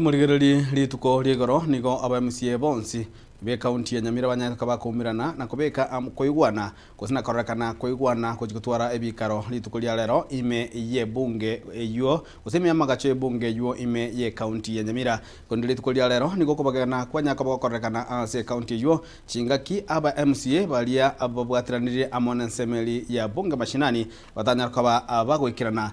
Timorigererie rituko ri'igoro nigo abemsie bonsi b'ekaunti ya Nyamira banyare koba koumerana na kobeka amo koigwana gose na kororekana koigwana gochia gotwara ebikaro rituko ria rero ime y'ebunge eyuo gose ime y'amagacho y'ebunge eyuo ime y'ekaunti ya Nyamira korende rituko ria rero nigo okobagena kwanyare koba gokororekana ase ekaunti eyuo chingaki abemsie baria babwateranirie amo n'ensemo eria ya bunge mashinani batanyare koba abagoikerana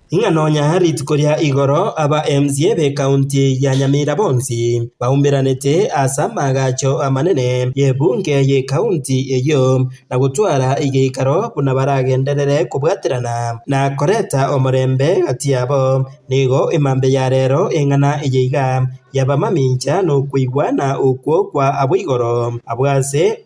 Ing'a nonya rituko ria igoro abaMCA b'Ekaunti ya Nyamira bonsi baumberanete as'amagacho amanene y'ebunge y'Ekaunti eyio na gotwara egeikaro buna baragenderere kobwaterana na koreta omorembe gati yabo. Nigo emambe ya rero eng'ana eyeiga y'abamamincha nokweigwana okwo kwa aboigoro abw'ase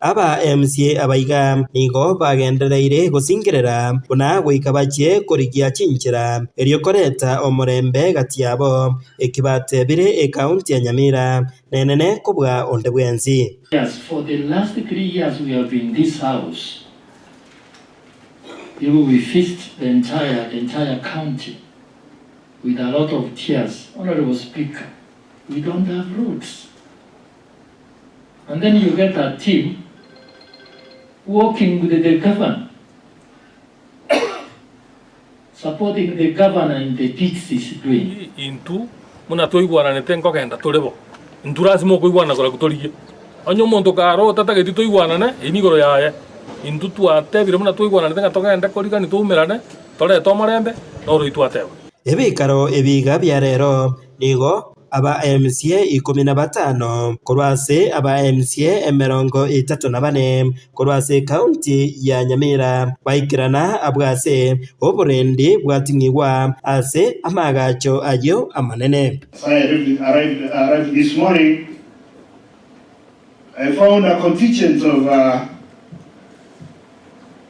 Aba MCA aba iga nigo bagendereire gosingerera buna goika bachie korigia chinchera, erio koreta omorembe gati yabo, eki batebire ecounty ya Nyamira nenene kobua onde bwensi. Yes for the last three years we have been this house igo we fist the entire the entire county with alot of tears honourable speaker we don't have roads and then you get a team working with the governor, supporting the governor in the deeds he is doing. Intw buna twaigwananete nkogenda tore bo, intw lasima okoigwanana koraku torigie. Onye omonto karota tageti toigwanane, eyi nigoro yaye. Intw twatebire buna twaigwananete ng'a togende korigania twaumerane, torete omorembe, noroitw ateba. Ebikaro ebi iga bia rero nigo Aba MCA ikomi na batano korwa ase aba MCA emerongo etato na bane korwa ase ekaunti ya Nyamira baikerana abwo ase oborendi bwatung'igwa ase amaagacho ayio amanene. As I arrived, arrived, arrived this morning, I found a contingent of uh,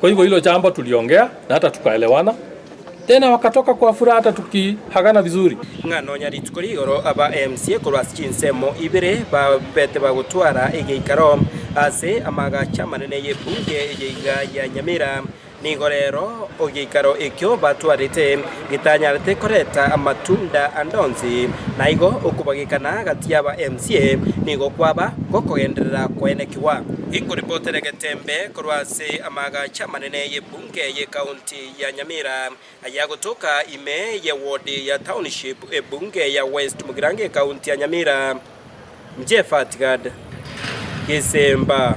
Kwa hivyo hilo jambo tuliongea na hata tukaelewana tena, wakatoka kwa furaha hata tukiagana vizuri. Ng'a nonya rituko rigoro aba mca korwa ase chinsemo ibere babete bagotwara egeikaro ase amaagacho amanene y'ebunge eye iga ya Nyamira, nigo rero egeikaro ekio batwarete. getanyarete koreta amatunda ande onsi, na igo okobagekana gati y'aba emsie nigo kwaba gokogenderera koenekigwa. Ekoripotera egetembe korwa ase amaagacho amanene y'ebunge y'ekaunti ya Nyamira ayagotoka ime y'ewodi ya township ebunge ya West Mugirango ekaunti ya Nyamira, Jeff Atgard, Gesemba.